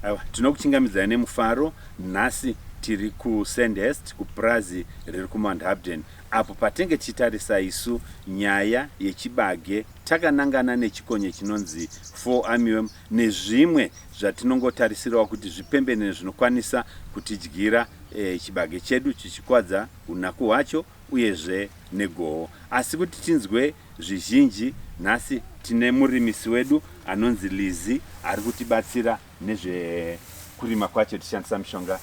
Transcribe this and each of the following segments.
Aiwa, tinokuchingamidzai nemufaro. Nhasi tiri kuSandhurst, kupurazi riri kuMount Hubden, apo patenge tichitarisa isu nyaya yechibage takanangana nechikonye chinonzi fall armyworm nezvimwe zvatinongotarisirawo kuti zvipembenene zvinokwanisa kutidyira e, chibage chedu chichikwadza unaku hwacho uyezve negoho. Asi kuti tinzwe Zvizhinji nhasi tine murimisi wedu anonzi Lizzy ari kutibatsira nezvekurima kwacho tichishandisa mishonga.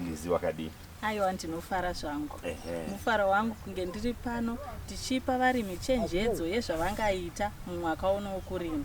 Lizzy wakadii? Aiwa ndinofara zvangu. Ehe. Mufaro wangu kunge ndiri pano tichipa varimi chenjedzo yezvavangaita mumwaka uno wokurima.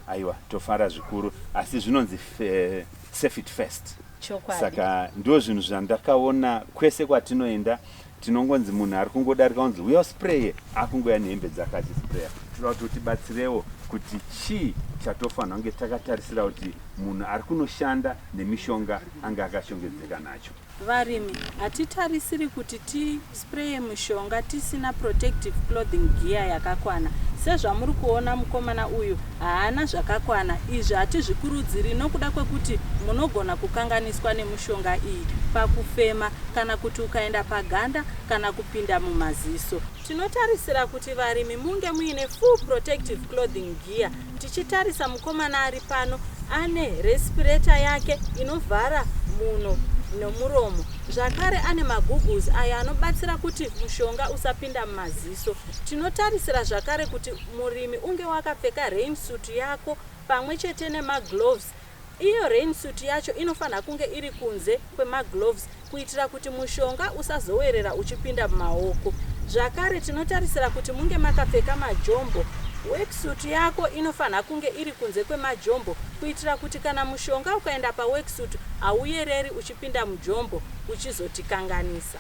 Aiwa tofara zvikuru asi zvinonzi fe- safe it first. Chokwadi. Saka ndizvo zvinhu zvandakaona kwese kwatinoenda tinongonzi munhu ari kungodarika unzi uya uspraye akungoya nehembe dzake achispraya tinoda kuti utibatsirewo kuti chii chatofanira kunge takatarisira kuti munhu ari kunoshanda nemishonga ange akashongedzeka nacho varimi hatitarisiri kuti tispraye mushonga tisina protective clothing gear yakakwana sezvamuri kuona mukomana uyu Haana zvakakwana. Izvi hatizvikurudziri nokuda kwekuti munogona kukanganiswa nemushonga iyi pakufema kana kuti ukaenda paganda kana kupinda mumaziso. Tinotarisira kuti varimi munge muine full protective clothing gear tichitarisa mukomana ari pano ane respirator yake inovhara muno nomuromo zvakare ane magoogles ayo anobatsira kuti mushonga usapinda mumaziso. Tinotarisira zvakare kuti murimi unge wakapfeka rain suit yako pamwe chete nemagloves iyo rain suit yacho inofanira kunge iri kunze kwemagloves kuitira kuti mushonga usazowerera uchipinda mumaoko zvakare tinotarisira kuti munge makapfeka majombo worksuit yako inofanira kunge iri kunze kwemajombo kuitira kuti kana mushonga ukaenda paworksuit hauyereri uchipinda mujombo uchizotikanganisa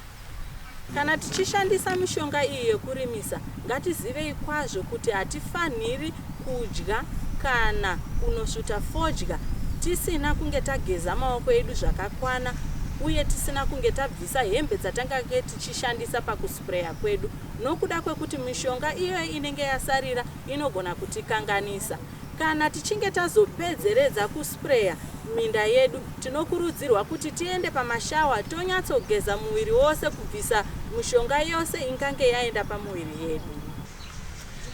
Kana tichishandisa mishonga iyi yekurimisa, ngatizivei kwazvo kuti hatifanhiri kudya kana kunosvuta fodya tisina kunge tageza maoko edu zvakakwana uye tisina kunge tabvisa hembe dzatangange tichishandisa pakuspreya kwedu nokuda kwekuti mishonga iyoyo inenge yasarira inogona kutikanganisa. Kana tichinge tazopedzeredza kuspreya minda yedu, tinokurudzirwa kuti tiende pamashawa tonyatsogeza muviri wose kubvisa mishonga yose ingange yaenda pamuviri yedu.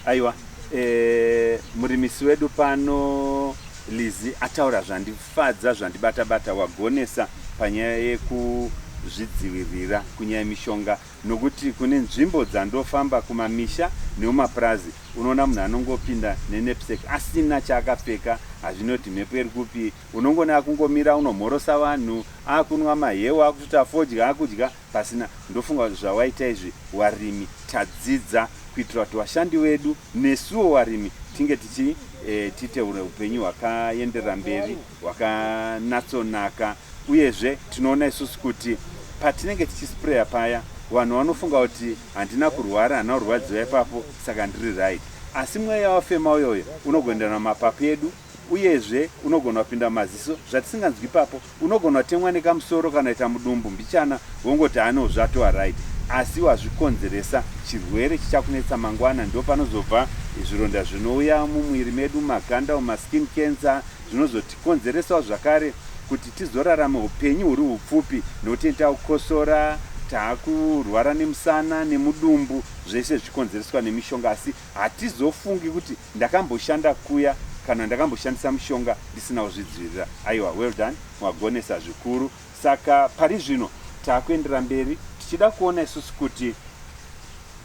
Aiwa, e, murimisi wedu pano Lizi ataura zvandifadza zvandibata bata wagonesa panyaya yekuzvidzivirira kunyaya mishonga nokuti kune nzvimbo dzandofamba kumamisha neumapurazi unoona munhu anongopinda nenepsek asina chaakapfeka hazvinoti mhepo iri kupi unongona akungomira unomhorosa vanhu akunwa mahewa akuti afodya akudya pasina ndofunga kuti zvawaita izvi warimi tadzidza kuitira kuti vashandi vedu nesuwo warimi tinge tichi eh, tiite upenyu hwakaenderera mberi hwakanatsonaka uyezve tinoona isusu kuti patinenge tichisprayer paya vanhu vanofunga kuti handina kurwara hana kurwadziwa ipapo saka ndiri right asi mweya wafema uyoyo unogondera namapapu edu uyezve unogona kupinda maziso zvatisinganzwi ipapo unogona kutemwa nekamusoro kana ita mudumbu mbichana wongoti anewo zvatova right asi wazvikonzeresa chirwere chichakunetsa mangwana ndo panozobva zvironda zvinouya mumwiri medu maganda umaskin cancer zvinozotikonzeresawo zvakare kuti tizorarame upenyu huri hupfupi nekuti takukosora takurwara nemusana nemudumbu zvese zvichikonzereswa nemishonga asi hatizofungi kuti ndakamboshanda kuya kana ndakamboshandisa mushonga ndisina kuzvidzivirira aiwa well done mwagonesa zvikuru saka pari zvino takuendera mberi tichida kuona isusu kuti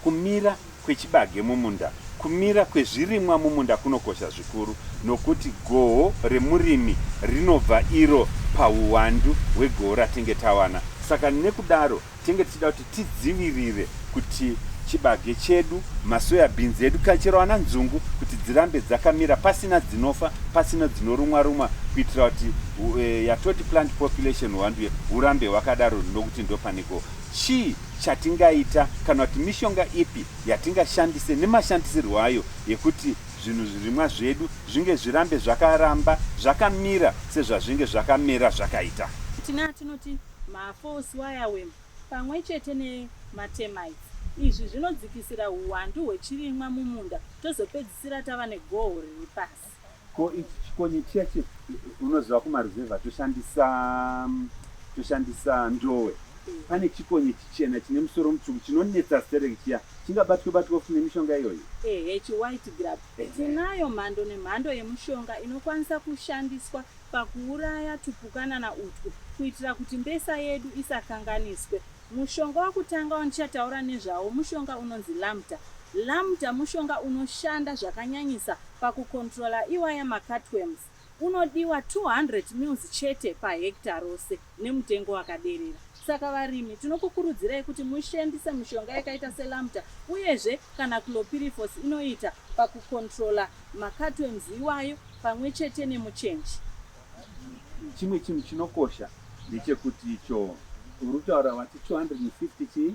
kumira kwechibage mumunda, kumira kwezvirimwa mumunda kunokosha zvikuru nokuti goho remurimi rinobva iro pahuwandu hwegoho ratenge tawana. Saka nekudaro tenge tichida kuti tidzivirire kuti chibage chedu, masoya bhinzi edu kana chero ana nzungu kuti dzirambe dzakamira pasina dzinofa, pasina dzinorumwa rumwa kuitira kuti eh, yatoti plant population huwandu hurambe hwakadaro nokuti ndopaneko Chii chatingaita kana kuti mishonga ipi yatingashandise nemashandisirwo ayo yekuti zvinhu zvirimwa zvedu zvinge zvirambe zvakaramba zvakamira sezvazvinge zvakamera zvakaita? Tine atinoti mafalse wireworm pamwe chete nematermites. Izvi zvinodzikisira huwandu hwechirimwa mumunda tozopedzisira tava negoho riri pasi. Ko ichi chikonye chiya che unoziva kumaruzevha toshandisa toshandisa ndowe. Pane chikonye chichena chine musoro mutsvuku chinonetsa sterek chiya chingabatwe batwe futi nemishonga iyoyo. Ehe chiwhite grub. Tinayo mhando nemhando yemushonga inokwanisa kushandiswa pakuuraya tupukanana utwu kuitira kuti mbesa yedu isakanganiswe. Mushonga wekutanga wandichataura nezvawo mushonga unonzi Lamta. Lamta mushonga unoshanda zvakanyanyisa Paku controller iwaya ma cutworms unodiwa 200 mils chete pa hectare rose nemutengo wakaderera. Saka varimi tinokukurudzirai kuti mushandise mishonga yakaita se Lambda uyezve kana Clopyrifos inoita paku controller ma cutworms iwayo pamwe chete nemuchenji. Chimwe chinhu chinokosha ndechekuti icho urikutaura vati 250 chii?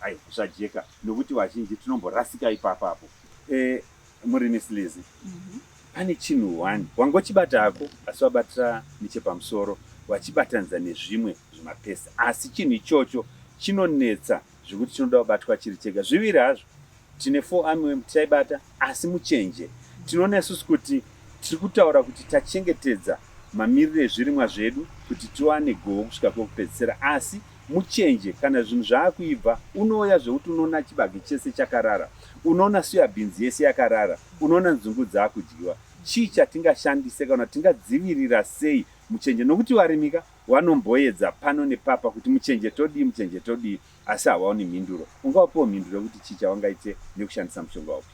Hai kusajeka nokuti vazhinji tinomborasika ipapa apo. Eh, murimi Slizi. Pane chinhu one wangochibata hako asi wabatira nechepamusoro wachibatanidza nezvimwe zvimapesi asi chinhu ichocho chinonetsa zvekuti chinoda kubatwa chiri chega zviviri hazvo Tine four armyworm titaibata asi muchenje tinoona isusu kuti tiri kutaura kuti tachengetedza mamiriro ezvirimwa zvedu kuti tiwane goho kusvika kwekupedzisira asi muchenje kana zvinhu zvaakuibva unouya zvekuti unoona chibage chese chakarara, unoona soya beans yese yakarara, unoona nzungu dzaakudyiwa. Chii chatingashandise kana tingadzivirira sei muchenje nokuti varimika vanomboedza pano nepapa kuti muchenje todii, muchenje todii asi havaoni mhinduro. Ungawapiwo mhinduro yekuti chii chavangaite nekushandisa mushonga upi?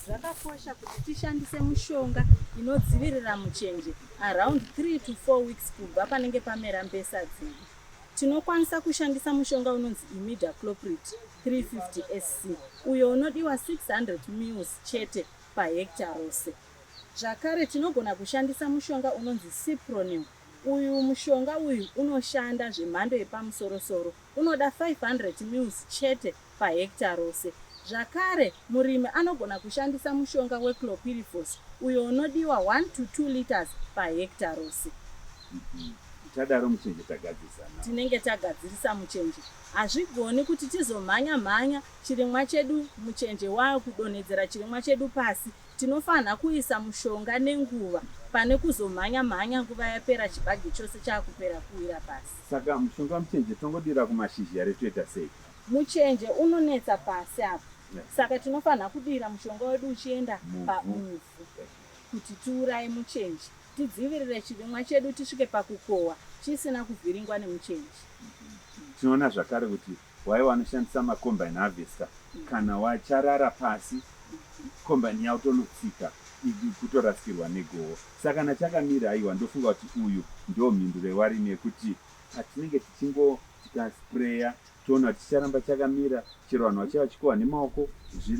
Zvakakosha kuti tishandise mushonga inodzivirira muchenje around 3 to 4 weeks kubva panenge pamera mbesa dzedu. Tinokwanisa kushandisa mushonga unonzi imidacloprid 350 SC uyo unodiwa 600 mils chete pahekita rose. Zvakare tinogona kushandisa mushonga unonzi cipronil Uyu mushonga uyu unoshanda zvemhando yepamusoro soro, unoda 500 mils chete pahekita rose. Zvakare, murimi anogona kushandisa mushonga weClopyrifos uyo unodiwa 1 to 2 litres pahekita rose. Tadaro muchenje tagadzirisa now. Tinenge tagadzirisa muchenje. Hazvigoni kuti tizomhanya mhanya chirimwa chedu muchenje waakudonhedzera chirimwa chedu pasi Tinofanha kuisa mushonga nenguva pane kuzomhanya mhanya nguva yapera chibage chose chakupera kuwira pasi. Saka mushonga muchenje tongodira kumashizha here toita sei? Muchenje unonetsa pasi apa saka tinofanha kudira mushonga wedu uchienda pamuvhu kuti tiuraye muchenje tidzivirire chirimwa chedu tisvike pakukohwa chisina kuvhiringwa nemuchenje. Tinoona zvakare kuti Why wanoshandisa ma combine harvester kana wacharara pasi combine yavo tonotsika kutorasikirwa negoho saka kana chakamira aiwa ndofunga kuti uyu ndo mhinduro yewarimi yekuti patinenge tichingo tikasprayer toona kuti chicharamba chakamira chero vanhu vachava chikohwa nemaoko zviri